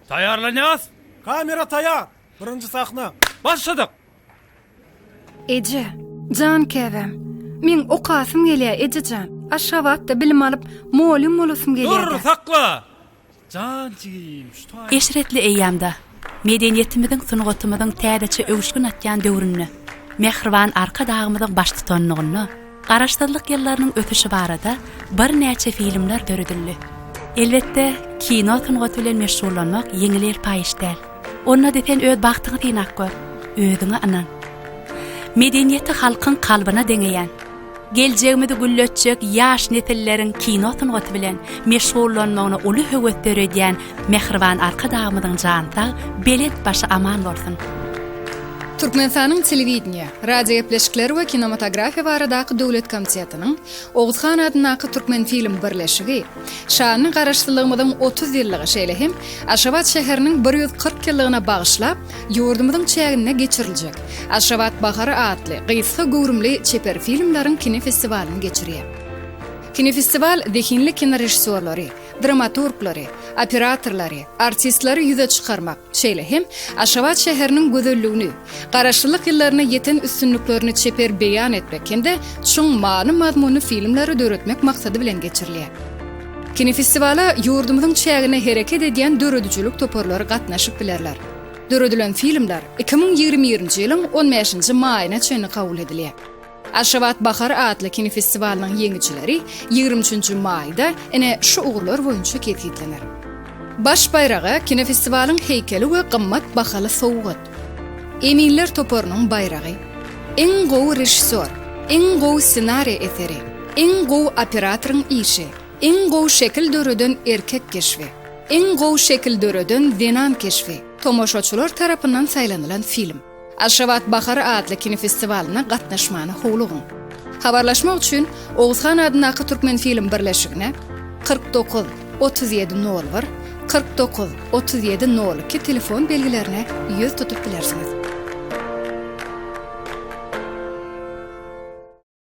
Taýýarlanýas! Kamera taýýar! Birinji sahna! Başladyk! Eje, jan käbäm! Meň okasym gelýär, eje jan! Aşgabatda bilim alyp, molýum bolasym gelýär-dä! Dur, sakla! Jan jigim, şu taýy. Eşretli eýýamda Medeniýetimiziň, sungatymyzyň täzeçe öwüşgin atýan döwründe, mähriban Arkadagymyzyň baştutanlygynda Garaşsyzlyk ýyllarynyň ösüşi barada birnäçe filmler döredildi. Elbetde, kino sungaty bilen meşgullanmak ýeňil-elpaý iş däl. Onda-da sen öz bagtyňy synap gör, özüňe ynan. Medeniýeti halkyň kalbyna deňeýän, Geljegimizi gülletjek ýaş nesilleriň kino sungaty bilen meşgullanmagyna uly höwes döredýän mähriban Arkadagymyzyň jany sag, belent başy aman bolsun! Türkmenistanyň Telewideniýe, radiogepleşikler we kinematografiýa baradaky döwlet komitetiniň, Oguz han adyndaky Türkmenfilm birleşigi, Şanly Garaşsyzlygymyzyň otuz ýyllygy, şeýle hem Aşgabat şäheriniň bir ýüz kyrk ýyllygyna bagyşlap, Ýurdumyzyň çäginde geçiriljek Aşgabat bahary atly gysga göwrümli çeper filmleriň kinofestiwalyny geçirýär. Kinofestiwal zehinli kinorežissýorlary, dramaturglary, operatorlary, artistleri ýüze çykarmak, şeýle hem Aşgabat şäheriniň gözelligini, Garaşsyzlyk ýyllaryna ýeten üstünliklerini çeper beýan etmek hem-de çuň many-mazmunly filmleri döretmek maksady bilen geçirilýär. Kinofestiwala ýurdumyzyň çäginde hereket edýän döredijilik toparlary gatnaşyp bilerler. Döredilen filmler iki müň ýigrimi birinji ýylyň on bäşinji maýyna çenli kabul edilýär. Aşgabat bahary atly kinofestiwalynyň ýeňijileri ýigrimi üçünji maýda ine şu ugurlar boýunça kesgitlener. Baş baýraga kinofestiwalyň heýkeli we gymmat bahaly sowgat. Eminler toparynyň baýragy, Iň gowy režissýor, Iň gowy ssenariý eseri, Iň gowy operatoryň işi, Iň gowy şekil döreden erkek keşbi, Iň gowy şekil döreden zenan keşbi, Tomaşaçylar tarapyndan saýlanylan film. Aşgabat bahary atly kinofestiwalyna gatnaşmany howlugyň. Habarlaşmak üçin Oguzhan adyndaky Türkmenfilm birleşigine, kyrk dokuz, otuz ýedi nol bir, kyrk dokuz, otuz ýedi nol iki telefon belgilerine ýüz tutup bilersiňiz.